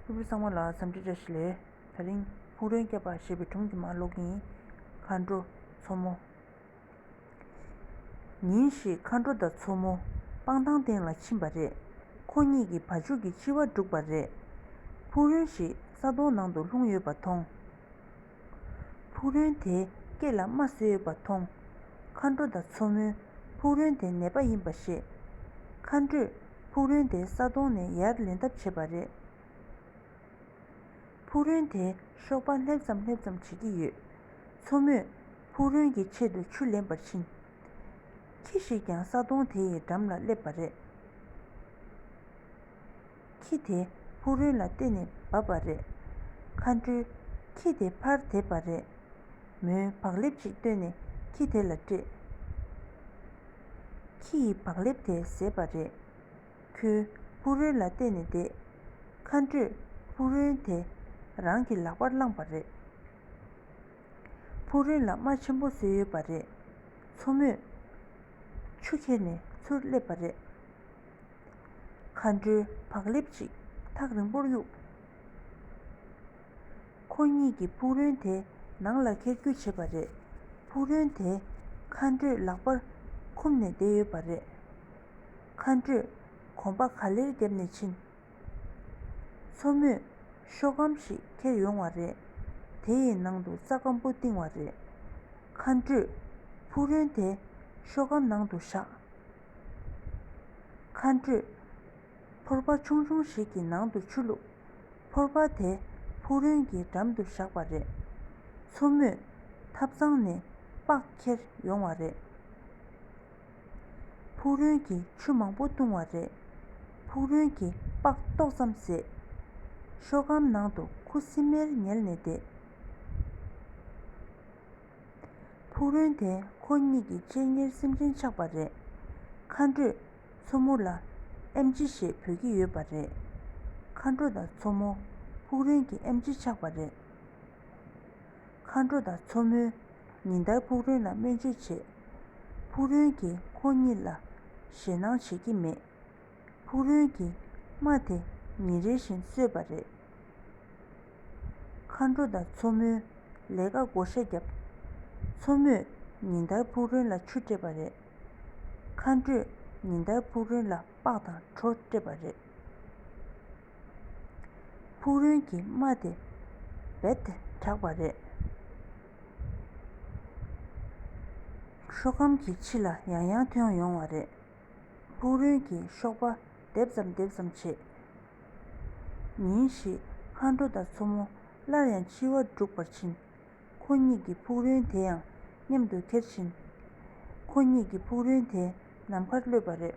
ཕུར་བུ་གསང་བ་ལ་ཟམ་བྲིས་བཀྲ་ཤིས་ལས། ད་རིང་ཕུག་རོན་བསྐྱབས་པ་ཞེས་པའི་གྲོང་གི་མ་ལོག་ཡིན། མཁའ་འགྲོ་མཚོ་མོ། ཉིན་ཞིག་མཁའ་འགྲོ་དང་མཚོ་མོ་སྤང་ཐང་སྟེང་ལ་ཕྱིན་པ་རེད། ཁོ་གཉིས་ཀྱིས་བ་ཕྱུགས་ཀྱི་འཆི་བ་བསྒྲུགས་པ་རེད། ཕུག་རོན་ཞིག་ས་དོང་ནང་དུ་ལྷུང་ཡོད་པ་མཐོང། ཕུག་རོན་དེས་སྐེ་ལ་རྨ་བཟོས་ཡོད་པ་མཐོང། མཁའ་འགྲོ་དང་མཚོ་མོས་ཕུག་རོན་དེ་ནད་པ་ཡིན་པ་ཤེས། མཁའ་འགྲོས་ཕུག་རོན་དེ་ས་དོང་ནས་ཡར་ལེན་ཐབས་བྱས་པ་རེད། ཕུག་རོན་དེས་གཤོག་པ་སླེབས་ཙམ་སླེབས་ཙམ་བྱེད་ཀྱི་ཡོད། མཚོ་མོས་ཕུག་རོན་གྱི་ཆེད་དུ་ཆུ་ལེན་པར་ཕྱིན། ཁྱི་ཞིག་ཀྱང་ས་དོང་དེ་ཡི་འགྲམ་ལ་སླེབས་པ་རེད། ཁྱི་དེ་ཕུག་རོན་ལ་བསྟེན་ནས་བབས་པ་རེད། མཁའ་འགྲོས། ཁྱི་དེ་ཕར་དེད་པ་རེད། མོའི་བག་ལེབ་ཅིག་བཏོན་ནས་ཁྱི་དེ་ལ་སྤྲད། ཁྱི་ཡིས་བག་ལེབ་དེ་བཟས་པ་རེད། ཁྱོས་ཕུག་རོན་ལ་བསྟེན་ནས་བསྡད། མཁའ་འགྲོས། ཕུག་རོན་དེ་རང་གི་ལག་པར་བླངས་པ་རེད། ཕུག་རོན་ལ་རྨ་ཆེན་པོ་བཟོས་ཡོད་པ་རེད། མཚོ་མོས། ཆུ་ཁྱེར་ནས་ཚུར་སླེབས་པ་རེད། མཁའ་འགྲོའི་བག་ལེབ་ཅིག་ཐག་རིང་པོར་གཡུགས། ཁོ་གཉིས་ཀྱིས་ཕུག་རོན་དེ་ནང་ལ་འཁྱེར་རྒྱུ་བྱེད་པ་རེད། ཕུག་རོན་དེ་མཁའ་འགྲོས་ལག་པར་འཁུམས་ནས་བསྡད་ཡོད་པ་རེད། མཁའ་འགྲོས་གོམ་པ་ག་ལེར་རྒྱབ་ནས་ཕྱིན། མཚོ་མོས་ཤོག་སྒམ་ཞིག་འཁྱེར་ཡོང་བ་རེད། དེ་ཡི་ནང་དུ་རྩྭ་སྐམ་པོ་བཏིང་བ་རེད། མཁའ་འགྲོས་ཕུག་རོན་དེ་ཤོག་སྒམ་ནང་དུ་བཞག། མཁའ་འགྲོས། ཕོར་པ་ཆུང་ཆུང་ཞིག་གི་ནང་དུ་ཆུ་བླུགས། ཕོར་པ་དེ་ཕུག་རོན་གྱི་འགྲམ་དུ་བཞག་པ་རེད། མཚོ་མོས་ཐབ་ཚང་ནས་པགས་ཁྱེར་ཡོང་བ་རེད། ཕུག་རོན་གྱིས་ཆུ་མང་པོ་བཏུང་བ་རེད། ཕུག་རོན་གྱིས་པགས་ཏོག་ཙམ་བཟས། ཤོག་སྒམ་ནང་དུ་ཁུ་སིམ་མེར་ཉལ་ནས་བསྡད། ཕུག་རོན་དེ་ཁོ་གཉིས་ཀྱི་སྤྱན་སྔར་སེམས་ཅན་ཆགས་པ་རེད། མཁའ་འགྲོས་མཚོ་མོ་ལ་ཨེམ་ཆི་ཞེས་བོས་ཀྱི་ཡོད་པ་རེད། མཁའ་འགྲོ་དང་མཚོ་མོ། ཕུག་རོན་གྱི་ཨེམ་ཆི་ཆགས་པ་རེད། མཁའ་འགྲོ་དང་མཚོ་མོས་ཉིན་ལྟར་ཕུག་རོན་ལ་སྨན་བཅོས་བྱེད། ཕུག་རོན་གྱིས་ཁོ་གཉིས་ལ་ཞེད་སྣང་བྱེད་ཀྱི་མེད། ཕུག་རོན་གྱིས་རྨ་དེ་ཉིན་རེ་བཞིན་གསོས་པ་རེད། མཁའ་འགྲོ་དང་མཚོ་མོས་ལས་ཀ་བགོ་བཤའ་བརྒྱབ། མཚོ་མོས་ཉིན་ལྟར་ཕུག་རོན་ལ་ཆུ་སྤྲད་པ་རེད། མཁའ་འགྲོས་ཉིན་ལྟར་ཕུག་རོན་ལ་སྤགས་དང་གྲོ་སྤྲད་པ་རེད། ཕུག་རོན་གྱིས་རྨ་དེ་རྦད་དེ་དྲགས་པ་རེད། ཤོ་གམ་གྱི་ཕྱི་ལ་ཡང་ཡང་ཐོན་ཡོང་བ་རེད། ཕུག་རོན་གྱི་གཤོག་པ་རྡེབ་ཙམ་རྡེབ་ཙམ་བྱེད། ཉིན་ཞིག་མཁའ་འགྲོ་དང་མཚོ་མོ་སླར་ཡང་འཆི་བ་འབྲུག་པར་ཕྱིན། ཁོ་གཉིས་ཀྱི་ཕུག་རོན་དེ་ཡང་མཉམ་དུ་ཁྱེར་ཕྱིན། ཁོ་གཉིས་ཀྱི་ཕུག་རོན་དེ་ནམ་མཁར་གློད་པ་རེད།